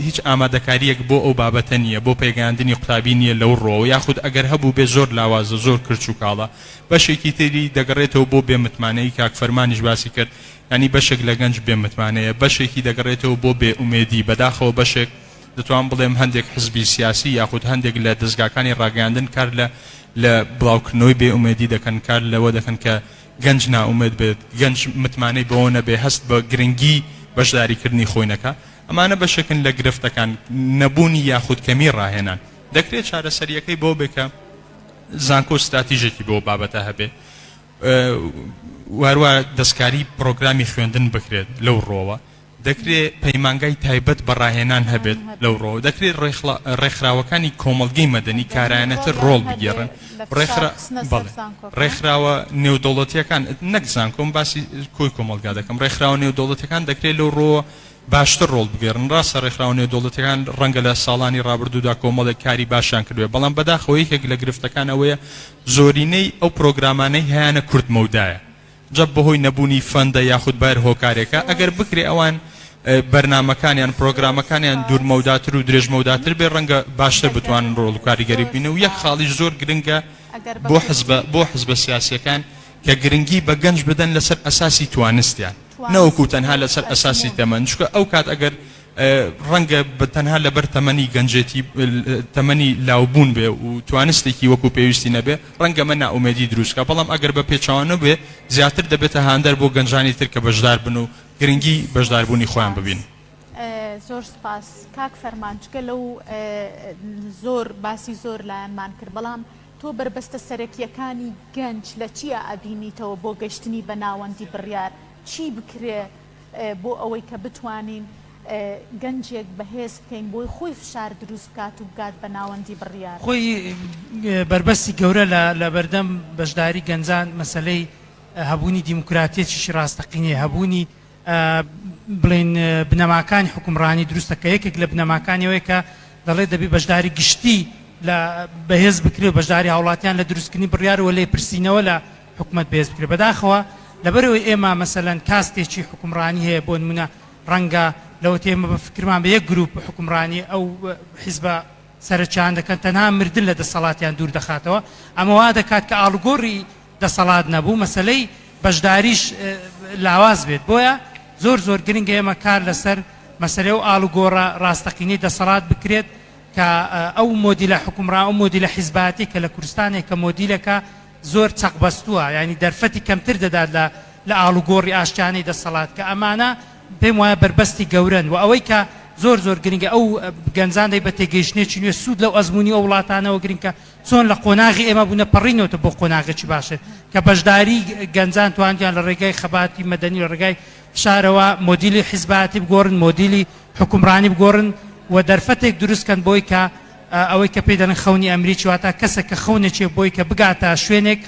هیچ ئامادەکاریەک بۆ ئەو بابەتە نییە بۆ پێگەاندنی قوتابی نییە لەو ڕۆەوە یاخود ئەگەر هەبوو بێ زۆر لاوازە زۆر کرچ و کاڵە بەشێکی تری دەگەڕێتەوە بۆ بێ متمانەی کاک فەرمانیش باسی کرد ینی بەشێک لە گەنج بێ متمانەیە بەشێکی دەگەڕێتەوە بۆ بێ ئومێدی بەداخەوە بەشێک دەتوانم بڵێم هەندێک حزبی سیاسی یاخود هەندێک لە دەزگاکانی ڕاگەیاندن کار لە لە بڵاوکردنەوەی بێ ئومێدی دەکەن، کار لەوە دەکەن کە گەنج نائومێد بێت، گەنج متمانەی بەوە نەبێت هەست بە گرنگی بەشداریکردنی خۆی نەکا، ئەمانە بەشێکن لە گرفتەکان، نەبوونی یاخود کەمی ڕاهێنان. دەکرێت چارەسەرییەکەی بەوە بێت کە زانکۆ ستراتیژێکی بۆ ئەو بابەتە هەبێت و هەروەها دەستکاری پرۆگرامی خوێندن بکرێت لەو ڕووەوە، دەکرێ پەیمانگای تایبەت بە ڕاهێنان هەبێت، لەو ڕۆوە دەکرێ ڕێکخراوەکانی کۆمەڵگەی مەدەنی کارایانەتر ڕۆڵ بگێڕن، ڕێکخراوە نێودەوڵەتییەکان، نەک زانکۆ، من باسی کۆی کۆمەڵگا دەکەم، ڕێکخراوە نێودەوڵەتییەکان دەکرێ لەو ڕۆوە باشتر ڕۆڵ بگێڕن، ڕاستە ڕێکخراوە نێودەوڵەتییەکان ڕەنگە لە ساڵانی ڕابردوودا کۆمەڵێک کاری باشیان کردبێ، بەڵام بەداخەوە یەکێک لە گرفتەکان ئەوەیە زۆرینەی ئەو پرۆگرامانەی هەیانە کورتمەودایە، جا بەهۆی نەبوونی فەندە یاخود بەهەر هۆکارێکە ئەگەر بکرێ ئەوان بەرنامەکانیان پرۆگرامەکانیان دوورمەوداتر و درێژمەوداتر بێ ڕەنگە باشتر بتوانن ڕۆڵ و کاریگەری ببینە و یەک خاڵیش زۆر گرنگە بۆ حزبە بۆ حزبە سیاسیەکان کە گرنگی بە گەنج بدەن لەسەر ئەساسی توانستیان نەوەکو تەنها لەسەر ئەساسی تەمەن چکە ئەو کات ئەگەر ڕەنگە بە تەنها لەبەر تەمەنی گەنجێتی تەمەنی لاوبوون بێ و توانستێکی وەکو پێویستی نەبێ ڕەنگە مە نائومێدی دروست کا بەڵام ئەگەر بە پێچەوانە بێ زیاتر دەبێتە هاندەر بۆ گەنجانی تر کە بەشدار بن و گرنگی بەشداربوونی خۆیان ببین. زۆر سپاس کاک فەرمان جگە لەو زۆر باسی زۆر لایەنمان کرد بەڵام تۆ بەربەستە سەرەکییەکانی گەنج لە چیا ئەبینیتەوە بۆ گەشتنی بە ناوەندی بڕیار چی بکرێ بۆ ئەوەی کە بتوانین گەنجێک بەهێز بکەین بۆی خۆی فشار دروست بکات و بگات بە ناوەندی بڕیار. خۆی بەربەستی گەورە لە لە بەردەم بەشداری گەنجان مەسەلەی هەبوونی دیموکراتیەتیشی ڕاستەقینەیە، هەبوونی بڵێین بنەماکانی حوکمڕانی دروستە کە یەکێک لە بنەماکانی ئەوەیە کە دەڵێت دەبێت بەشداری گشتی لە بەهێز بکرێ و بەشداری هاوڵاتیان لە دروستکردنی بڕیار و لێپرسینەوە لە حکومەت بەهێز بکرێت بەداخەوە لەبەرئەوەی ئێمە مەسەلەن کاستێکی حوکمڕانی هەیە بۆنمونە ڕەنگە لەوەتەی ئێمە بە فکرمان بە یەک گروپ حوکمڕانی ئەو حیزبە سەرەکیان دەکەن تەنها مردن لە دەسەڵاتیان دوور دەخاتەوە ئەمە وا دەکات کە ئاڵوگۆڕی دەسەڵات نەبوو مەسەلەی بەشداریش لاواز بێت بۆیە زۆر زۆر گرنگە ئێمە کار لەسەر مەسەلەی و ئاڵوگۆڕە ڕاستەقینەی دەسەڵات بکرێت کە ئەو مۆدیلە حکومڕا و مۆدیلە حیزباتی کە لە کوردستانێک کە مۆدیلەکە زۆر چەقبەستووە یانی دەرفەتی کەمتر دەدات لە لە ئاڵوگۆڕی ئاشتیانەی دەسەڵات کە ئەمانە پێم وایە بەربەستی گەورەن وە ئەوەی کە زۆر زۆر گرنگە ئەو گەنجان دەی بە تێگەیشتنێکی نوێ سوود لەو ئەزمونی ئەو وڵاتانەوە گرنگ کە چۆن لە قۆناغی ئێمە بوونە پەڕینەوەتە بۆ قۆناغێکی باشتر کە بەشداری گەنجان تواندیان لە ڕێگای خەباتی مەدەنی لە ڕێگای فشارەوە مۆدیلی حیزبایەتی بگۆڕن مۆدیلی حکومڕانی بگۆڕن و دەرفەتێک دروستکەن بۆی کە ئەوەی کە پێی دەڵێن خەونی ئەمریکی واتا کەسێک کە خەونێکی بۆی کە بگاتە شوێنێک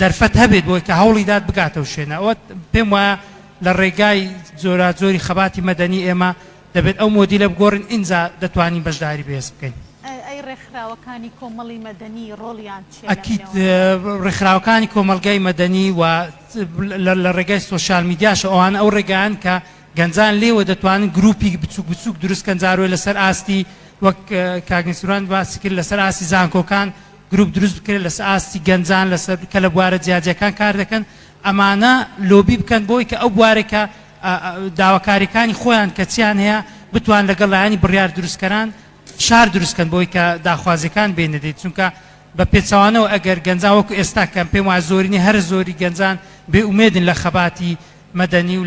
دەرفەت هەبێت بۆی کە هەوڵی دات بگاتە و شوێنە ئەوە پێم وایە لە ڕێگای جۆراجۆری خەباتی مەدەنی ئێمە دەبێت ئەو مۆدیلە بگۆڕین ئینجا دەتوانین بەشداری بەهێز بکەین. ئەی ڕێکخراوەکانی کۆمەڵی مەدەنی ڕۆڵیان چیە لەم ئەکید نێواندا؟ ڕێکخراوەکانی کۆمەڵگای مەدەنی و لە ڕێگای سۆشیال میدیاشەوە ئەوانە ئەو ڕێگایەن کە گەنجان لێوە دەتوانن گروپی بچوک بچوک دروست کەن جاروە لەسەر ئاستی وەک کاک نسران باسی کرد لەسەر ئاستی زانکۆکان گروپ دروست بکرێت لەس ئاستی گەنجان لەسەر کە لە بوارە جیاجەکان کار دەکەن ئەمانە لۆبی بکەن بۆی کە ئەو بوارێکە داواکاریەکانی خۆیان کە چیان هەیە بتوان لەگەڵ لایانی بڕیار دروستکەران فشار دروستکەن بۆی کە داخوازیەکان بێنەدەیت چونکە بە پێچوانەوە ئەگەر گەنجان وەکو ئێستا کەم پێم وایە زۆرینی هەر زۆری گەنجان بێ ئومێدن لە خەباتی مەدەنی و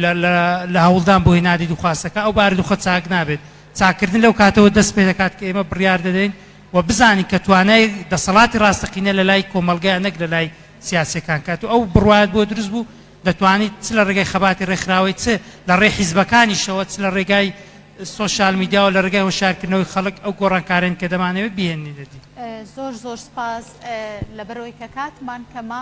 لە هەوڵدان بۆ هێنانی دوخواستەکە، ئەو بارودوخە چاک نابێت. چاککردن لەو کاتەوە دەست پێدەکات کە ئێمە بڕیار دەدەین و بزانین کە توانای دەسەڵاتی ڕاستەقینە لە لای کۆمەڵگەیە نەک لە لای سیاسیەکان. کاتو ئەو بڕوایەت بۆ دروست بوو دەتوانیت چ لە ڕێگای خەباتی ڕێکخراوەی چ لە ڕێی حیزبەکانیشەوە چ لە ڕێگای سۆشیال میدیاوە لە ڕێگای هۆشیارکردنەوەی خەڵک ئەو گۆڕانکارەن کە دەمانەوێت بیهێنینە دی. زۆر زۆر سپاس لەبەرئەوەی کە کاتمان کەمە.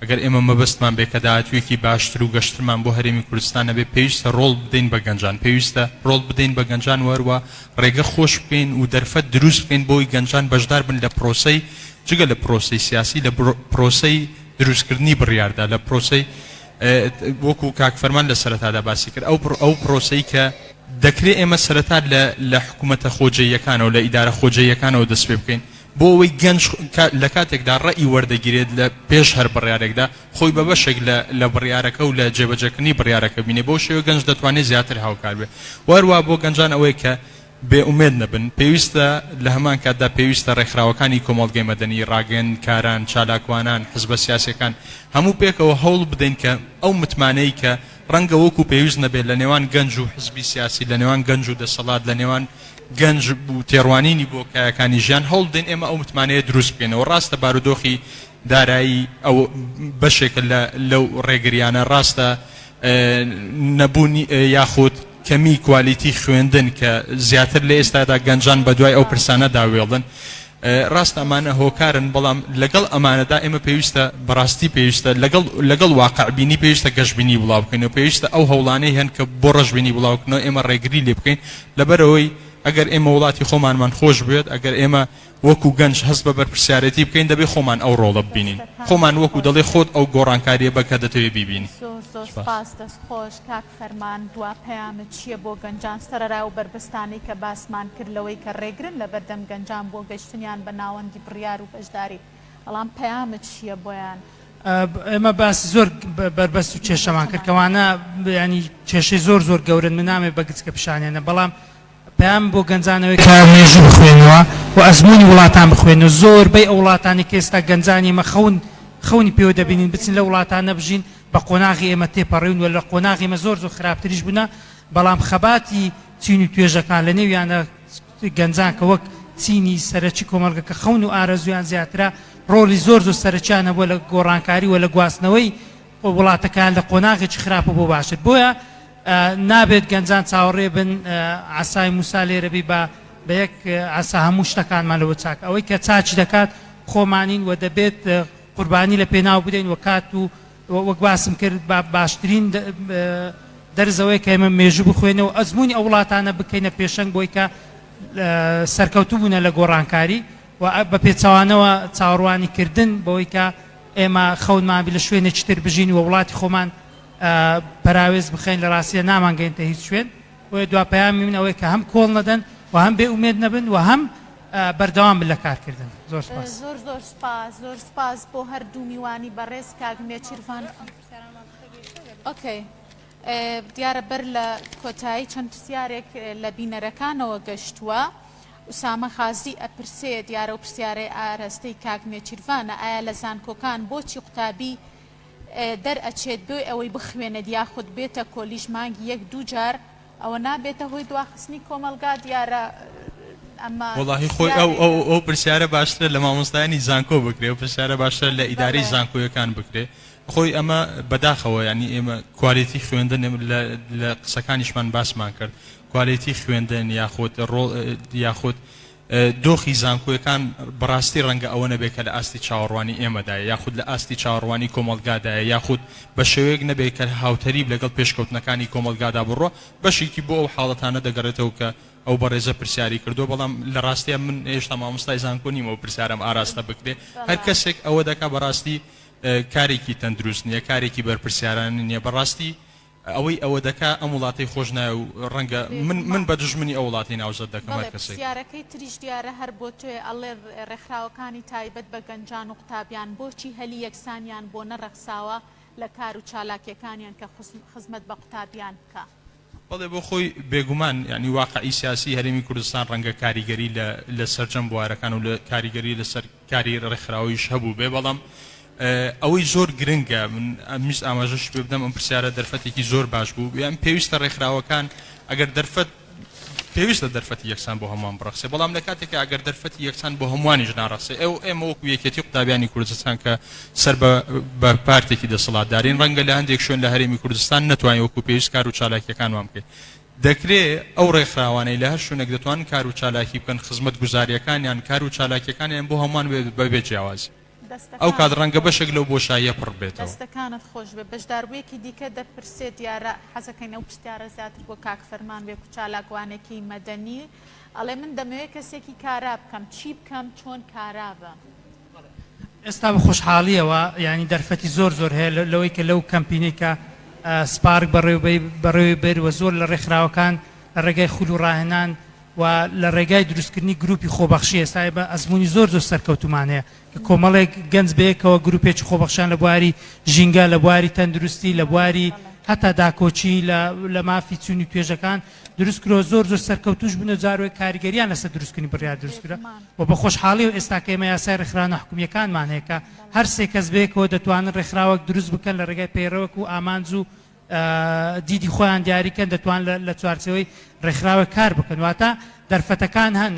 ئەگەر ئێمە مەبەستمان بێ کە داهاتوویەکی باشتر و گەشترمان بۆ هەرێمی کوردستان هەبێ پێویستە رۆڵ بدەین بە گەنجان، پێویستە رۆڵ بدەین بە گەنجان و هەروا رێگە خۆش بکەین و دەرفەت دروست بکەین بۆی گەنجان بەشدار بن لە پرۆسەی جگە لە پرۆسەی سیاسی لە پرۆسەی دروست کردنی بڕیاردا لە پرۆسەی وەکو کاک فەرمان لە سەرەتادا باسی کرد ئەو ئەو پرۆسەی کە دەکرێ ئێمە سەرەتا لە لە حکوومەتە خۆجێیەکانەوە لە ئیدارە خۆجێیەکانەوە دەست پێ بکەین بۆ ئەوەی گەنج لە کاتێکدا ڕەئی وەردەگیرێت لە پێش هەر بڕیارێکدا، خۆی بە بەشێک لە لە بڕیارەکە و لە جێبەجێکردنی بڕیارەکە بینێت، بەو شێوەیە گەنج دەتوانێت زیاتر هاوکار بێت و هەروەها بۆ گەنجان ئەوەی کە بێ ئومێد نەبن پێویستە لە هەمان کاتدا پێویستە ڕێکخراوەکانی کۆمەڵگەی مەدەنی، ڕاگەیەندکاران، چالاکوانان، حزبە سیاسییەکان هەموو پێکەوە هەوڵ بدەین کە ئەو متمانەی کە ڕەنگە وەکو پێویست نەبێت لە نێوان گەنج و حزبی سیاسی، لە نێوان گەنج و دەسەڵات، لە نێوان. گەنج و تێڕوانینی بۆ کایەکانی ژیان، هەوڵ بدەین ئێمە ئەو متمانەیە دروست بکەینەوە. ڕاستە بارودۆخی دارایی ئەو بەشێکە لە لەو ڕێگریانە، ڕاستە نەبوون یاخود کەمی کوالیتی خوێندن کە زیاتر لە ئێستادا گەنجان بە دوای ئەو پرسانەدا وێڵن، ڕاستە ئەمانە هۆکارن، بەڵام لەگەڵ ئەمانەدا ئێمە پێویستە بەڕاستی پێویستە لەگەڵ لەگەڵ واقعبینی پێویستە گەشبینی بڵاو بکەینەوە، پێویستە ئەو هەوڵانەی هەن کە بۆ ڕەشبینی بڵاو بکەنەوە ئێمە ڕێگری لێ بکەین، لەبەرئەوەی ئەگەر ئێمە وڵاتی خۆمانمان خۆش بوێت، ئەگەر ئێمە وەکو گەنج هەست بە بەرپرسیارێتی بکەین، دەبێت خۆمان ئەو ڕۆڵە ببینین. خۆمان وەکو دەڵێ خۆت ئەو گۆڕانکاریە بە کە دەتەوێت بیبینی. زۆر زۆر سوپاس. دەست خۆش کاک فەرمان دوا پەیامت چیە بۆ گەنجان سەرەرا ئەو بەربەستانەی کە باسمان کرد لەوەی کە رێگرن لەبەردەم گەنجان بۆ گەشتنیان بە ناوەندی بریار و بەشداری. بەڵام پەیامت چیە بۆیان؟ ئێمە باسی زۆر بەربەست و کێشەمان کرد کەوانە ینی کێشەی زۆر زۆر گەورن من نامێ بە گچکە پیشانێنە بەڵام پام بۆ گەنجانەوەی کە مێژوو بخوێنەوە و ئەزمموی وڵاتان بخوێنەوە زۆر بەی ئەو وڵاتانی کە ئێستا گەنجانی مە خەون خەونی پێوە دەبینین بچین لە وڵاتان نەبژین بە قۆناغی ئێمە تێپەڕیون و لە قۆناغی مە زۆر زۆر خراپتریش بوونا بەڵام خەباتی چین و توێژەکان لە نێویانە گەنجان کە وەک چینی سەرەکی کۆمەڵگە کە خەون و ئارەزوویان زیاترە، ڕۆڵی زۆر زۆر سەرەکیان هەبووە لە گۆڕانکاری و لە گواستنەوەی وڵاتەکەیان لە قۆناغێکی خراپە بۆ باشتر. بۆیە نابێت گەنجان چاوەڕێ بن عەسای موسا لێرە بی با بە یەک عەسا هەموو شتەکانمان لەوە چاک. ئەوەی کە چاکی دەکات خۆمانین و دەبێت قوربانی لە پێناو بدەین و کات و وەک باسم کرد با باشترین دەرس ئەوەیە کە ئێمە مێژوو بخوێنە و ئەزموونی ئەو وڵاتانە بکەینە پێشەنگ بۆی کە سەرکەوتوو بوونە لە گۆڕانکاری و بە پێچوانەوە چاوەڕوانی کردن بەوەی کە ئێمە خەونمان لە شوێنێکی تر بژین و وڵاتی خۆمان پەراوێز بخەین لە ڕاستیە نامانگەێنتە هیچ شوێن بۆیە دوا پەیامی من ئەوەیە کە هەم کۆڵ نەدەن و هەم بێ ئومێد نەبن و هەم بەردەوام بن لە کارکردن. زۆر سوپاس. زۆر زۆر سوپاس زۆر سوپاس بۆ هەردوو میوانی بەڕێز کاک نێچیرڤان خان. ئۆکەی دیارە بەر لە کۆتایی چەند پرسیارێک لە بینەرەکانەوە گەشتووە. ئوسامە خازی ئەپرسێ دیارە و پرسیارەی ئارەستەی کاک نێچیرڤانە ئایا لە زانکۆکان بۆچی قوتابی دەرئەچێت بێ ئەوەی بخوێنێت یاخود بێتە کۆلیژ مانگی یەک دوو جار ئەوە نابێتە هۆی دواخستنی کۆمەڵگا دیارە ئەمە وەڵاهی خۆی ئەو ئەو ئەو پرسیارە باشترە لە مامۆستایانی زانکۆ بکرێ و پرسیارە باشترە لە ئیدارەی بەڵێ زانکۆیەکان بکرێ خۆی ئەمە بەداخەوە یعنی ئێمە کوالێتی خوێندن ئێمە لە لە قسەکانیشمان باسمان کرد کوالێتی خوێندن یاخود ڕۆڵ یاخود دۆخی زانکۆیەکان بەڕاستی ڕەنگە ئەوە نەبێت کە لە ئاستی چاوەڕوانی ئێمەدایە یاخود لە ئاستی چاوەڕوانی کۆمەڵگادایە یاخود بە شێوەیەک نەبێت کە هاوتەریب لەگەڵ پێشکەوتنەکانی کۆمەڵگادا بڕوا بەشێکی بۆ ئەو حاڵەتانە دەگەڕێتەوە کە ئەو بەڕێزە پرسیاری کردووە بەڵام لە ڕاستیا من هێشتا مامۆستای زانکۆ نیم ئەو پرسیارەم ئاراستە بکرێت هەر کەسێک ئەوە دەکات بەڕاستی کارێکی تەندروست نییە کارێکی بەرپرسیارانە نییە بەڕاستی ئەوەی ئەوە دەکا ئەم وڵاتەی خۆش ناوێ و ڕەنگە من من بە دوژمنی ئەو وڵاتەی ناوزەد دەکەم هەر کەسێک. پرسیارەکەی تریش دیارە هەر بۆ تۆیە ئەڵێ ڕێکخراوەکانی تایبەت بە گەنجان و قوتابیان بۆچی هەلی یەکسانیان بۆ نەڕەخساوە لە کار و چالاکیەکانیان کە خزمەت بە قوتابیان بکا؟ بەڵێ بۆ خۆی بێگومان یانی واقعی سیاسی هەرێمی کوردستان ڕەنگە کاریگەری لە لە سەرجەم بوارەکان و لە کاریگەری لەسەر. کاری ڕێکخراویش هەبووبێ بەڵام ئەوەی زۆر گرنگە من ئەمویست ئاماژەش پێ بدەم ئەم پرسیارە دەرفەتێکی زۆر باش بوو یان پێویستە ڕێکخراوەکان ئەگەر دەرفەت پێویستە دەرفەتی یەکسان بۆ هەمووان بڕەخسێ بەڵام لە کاتێکە ئەگەر دەرفەتی یەکسان بۆ هەمووانیش ناڕەخسێ ئێو ئێمە وەکو یەکێتی قوتابیانی کوردستان کە سەر بە پارتێکی دەسەڵاتدارین ڕەنگە لە هەندێک شوێن لە هەرێمی کوردستان نەتوانین وەکو پێویست کار و چالاکیەکانمان بکەین دەکرێ ئەو ڕێکخراوانەی لە هەر شوێنێک دەتوانن کار و چالاکی بکەن، خزمەتگوزارییەکانیان، کار و چالاکییەکانیان بۆ هەمووان بێت بە بێ جیاوازی. ئەو کات ڕەنگە بەشێک لەو بۆشاییە پڕ ببێتەوە. دەستەکانت خۆش بێت. بەشداربوویەکی دیکە دەپرسێت، دیارە حەزەکەین ئەو پرسیارە زیاتر بۆ کاک فەرمان بێت کە چالاکوانێکی مەدەنی ئەڵێ من دەمەوێت کەسێکی کارا بکەم، چی بکەم چۆن کارا بم؟ ئێستا بە خۆشحاڵیەوە یانی دەرفەتی زۆر زۆر هەیە لەوەی کە لەو کەمپینەی کە سپارک بەڕێوەی بەر و زۆر لە ڕێکخراوەکان لە ڕێگای خول و ڕاهێنان و لە ڕێگای دروستکردنی گروپی خۆبەخشی ئێستا بە ئەزمموی زۆر زۆر سەرکەوتومان هەیە کە کۆمەڵێک گەنج بەیەکەوە گروپێکی خۆبەخشان لە بواری ژینگە لە بواری تەندروستی لە بواری هەتا داکۆکی لە مافی چوونی توێژەکان دروست کرۆ زۆر زۆر سەرکەوتوش بنە جارۆی کاریگەریان لەسە دروستکردنی بڕیار دروست کرا و بە خۆشحاڵی و ئێستاکە ئێمە یاسای ڕێکخراوە حکومیەکانمان هەیە کە هەر سێ کەس بەیەکەوە دەتوانن ڕێکخراوەک دروست بکەن لە ڕێگای پەیڕەوەک و ئامانج و دیدی خۆیان دیاریکەن دەتوان لە چوارچەوەی ڕێکخراوە کار بکەن واتە دەرفەتەکان هەن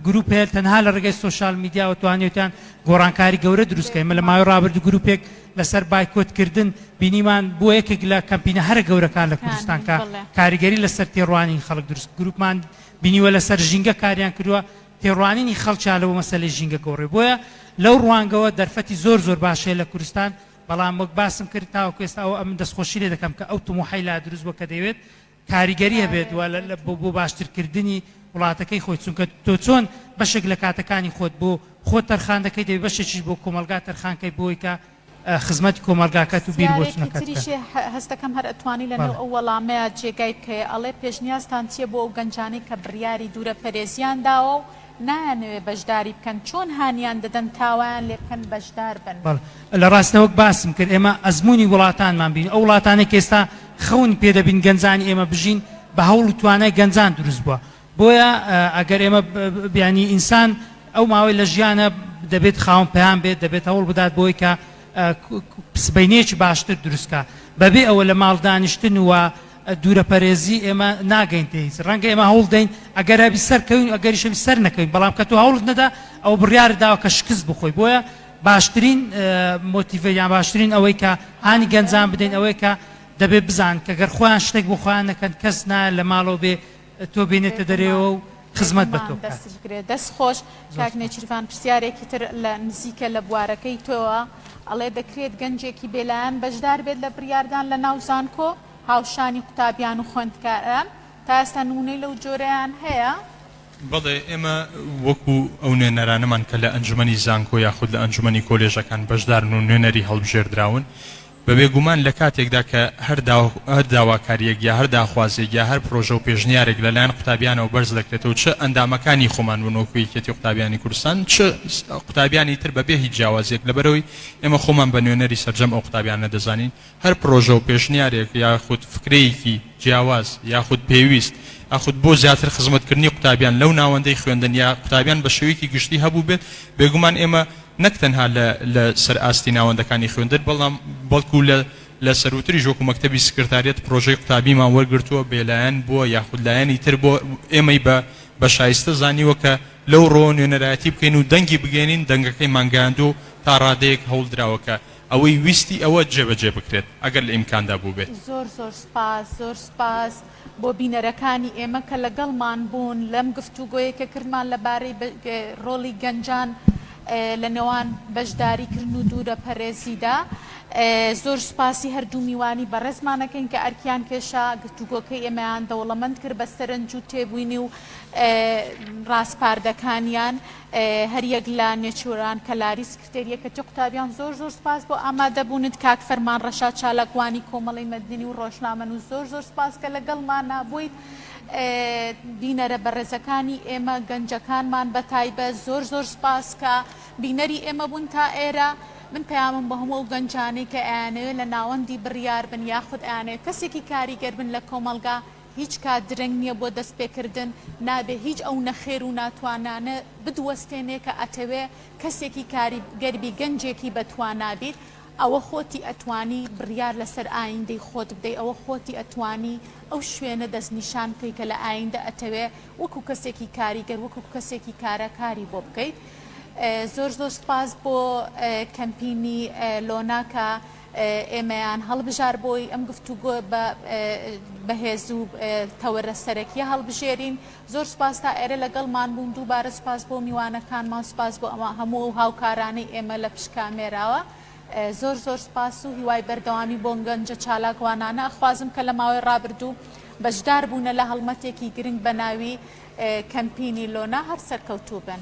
گروپ هەیە تەنها لە ڕێگەی سوۆشال میدیاوە توانێتیان گۆڕانکاری گەورە دروستکەین مە لە ماوەی ڕابرد گروپێک لەسەر بایکۆت کردن بینیمان بووە یەکێک لە کەمپینە هەرە گەورەکان لە کوردستان کە کاریگەری لەسەر تێڕوانینی خەڵک دروست گروپمان بینیوە لەسەر ژینگە کاریان کردووە تێڕوانینی خەڵکیان لەوە مەسەلەی ژینگە گۆڕێ بۆیە لەو ڕوانگەوە دەرفەتی زۆر زۆر باش هەیە لە کوردستان بەڵام وەک باسم کرد تاوەکو ئێستا ئەوە ئەمن دەستخۆشی لێ دەکەم کە ئەو تموحەی لا دروست بووە کە دەیەوێت کاریگەری هەبێت و بۆ باشتر کردنی وڵاتەکەی خۆی چونکە تۆ چۆن بەشێک لە کاتەکانی خۆت بۆ خۆت تەرخان دەکەی دەبێت بەشێکیش بۆ کۆمەڵگا تەرخان کەی بۆی کە خزمەتی کۆمەڵگاکەت و بیر بۆ پرسیارێکی چونەکەت بکە. تریشێ هە هەست دەکەم هەر ئەتوانی لە نێو بەڵێ. ئەو وەڵامەیا جێگای بکەیە ئەڵێ پێشنیازتان چیە بۆ ئەو گەنجانەی کە بڕیاری دوورە پەرێزیان داوە و نایانەوێ بەژداری بکەن چۆن هانیان دەدەن تاوایان لێ بکەن بەژدار بن. بەڵێ لە ڕاستە وەک باسم کرد ئێمە ئەزموونی وڵاتانمان بینی ئەو وڵاتانەی کە ئێستا خەون پێ دەبین گەنجانی ئێمە بژین بە هەوڵ و توانای گەنجان دروست بووە بۆیە ئەگەر ئێمە بیانی ئینسان ئەو ماوەی لە ژیانە دەبێت خاوەن پەیام بێت دەبێت هەوڵ بدات بۆی کە سبەینێکی باشتر دروستکە بەبێ ئەوە لە ماڵ دانیشتن و دوورەپەرێزی ئێمە ناگەین پێ هیچ ڕەنگە ئێمە هەوڵ دەین ئەگەر هەبی سەرکەوین ئەگەریش هەبی سەر نەکەوین بەڵام کە تۆ هەوڵت نەدا ئەوە بڕیارت داوە کە شکست بخۆی بۆیە باشترین مۆتیڤە یان باشترین ئەوەی کە هانی گەنجان بدەین ئەوەی کە دەبێت بزان کە گەر خۆیان شتێک بۆ خۆیان نەکەن کەس نایە لە ماڵەوە بێ تۆ بینێتە دەرێەوە و خزمەت بە تۆ بێتمان بکات دەست بگرێت دەست خۆش کاک زۆر سوپاس. نێچیرڤان پرسیارێکی تر لە نزیکە لە بوارەکەی تۆوە ئەڵێ دەکرێت گەنجێکی بێلایەن بەشدار بێت لە بڕیاردان لە ناو زانکۆ؟ هاوشانی قوتابیان و خوێندکاران تا ئێستا نموونەی لەو جۆرەیان هەیە؟ بەڵێ، ئێمە وەکو ئەو نوێنەرانەمان کە لە ئەنجومەنی زانکۆ یاخود لە ئەنجومەنی کۆلێژەکان بەشدارن و نوێنەری هەڵبژێردراون، بە بێگومان لە کاتێکدا کە هەر داواکارییەک یا هەر داخوازییەک یا هەر پرۆژە و پێشنیارێک لە لایەن قوتابیانەوە بەرز دەکرێتەوە و چ ئەندامەکانی خۆمان بن وەکو یەکیەتی قوتابیانی کوردستان چ قوتابیانی تر بە بێ هیچ جیاوازییەک لەبەرئەوەی ئێمە خۆمان بە نوێنەری سەرجەم ئەو قوتابیانە دەزانین هەر پرۆژە و پێشنیارێک یاخود فکرەیەکی جیاواز یاخود پێویست یاخود بۆ زیاتر خزمەتکردنی قوتابیان لەو ناوەندەی خوێندن یا قوتابیان بە شێوەیەکی گشتی هەبووبێت، بێگومان ئێمە نەک تەنها لە لە سەر ئاستی ناوەندەکانی خوێندن بەڵام بەڵکو لە لە سەرووتریش وەکو مەکتەبی سکرتاریەت پرۆژەی قوتابیمان وەرگرتووە بێلایەن بووە یاخود لایەنی تر بۆ ئێمەی بە بە شایستە زانیوە کە لەو ڕۆوە نوێنەرایەتی بکەین و دەنگی بگەیەنین دەنگەکەیمان گەیاندووە و تا ڕادەیەک هەوڵدراوە کە ئەوەی ویستی ئەوە جێبەجێ بکرێت ئەگەر لە ئیمکاندا بووبێت. زۆر زۆر سوپاس زۆر سوپاس بۆ بینەرەکانی ئێمە کە لەگەڵمان بوون لەم گفتوگۆیەی کە کردمان لەبارەی ڕۆڵی گەنجان لە نێوان بەشداریکردن و دوورە پەرێزیدا زۆر سوپاسی هەردوو میوانی بەڕێزمانەکەین کە ئەرکیان کێشا گفتوگۆکەی ئێمەیان دەوڵەمەند کرد بە سەرنج و تێبووینی و ڕاسپاردەکانیان هەریەک لە نێچیران کەلاریس ستێر یەکەتی قوتابیان زۆر زۆر سپاس بۆ ئامادە بونت کاک فەرمان ڕەشاد چالاکوانی کۆمەڵەی مەدنی و ڕۆژنامەنوس زۆر زۆر سپاس کە لەگەڵمانا بویت بینەرە بەڕێزەکانی ئێمە گەنجەکانمان بەتایبەت زۆر زۆر سپاس کە بینەری ئێمە بون تا ئێرە من پەیامم بە هەموو ئەو گەنجانەی کە ئەیانەوێت لە ناوەندی بڕیار بن یاخود ئەیانەوێت کەسێکی کاریگەر بن لە کۆمەڵگا هیچ کات درەنگ نیە بۆ دەست پێکردن نابێ هیچ ئەو نەخێر و ناتوانانە بدوەستێنێ کە ئەتەوێ کەسێکی کاری گەربی گەنجێکی بەتوانا بیت ئەوە خۆتی ئەتوانی بریار لەسەر ئایندەی خۆت بدەی ئەوە خۆتی ئەتوانی ئەو شوێنە دەست نیشان بکەی کە لە ئایندە ئەتەوێ وەکو کەسێکی کاریگەر وەکو کەسێکی کارا کاری بۆ بکەیت زۆر زۆر سپاس بۆ کەمپینی لۆناکە. ئێمەیان هەڵبژار بۆی ئەم گفتوگۆ بە بەهێز و تەوەرە سەرەکیە هەڵبژێرین زۆر سپاس تا ئێرە لەگەڵمان بوون دووبارە سپاس بۆ میوانەکانمان سپاس بۆ ئەوە هەموو و هاوکارانەی ئێمە لە پشت کامێراوە زۆر زۆر سپاس و هیوای بەردەوامی بۆ گەنجە چالاکوانانە ئەخوازم کە لە ماوەی ڕابردوو بەشدار بوونە لە هەڵمەتێکی گرنگ بە ناوی کەمپینی لۆنا هەر سەرکەوتوو بن.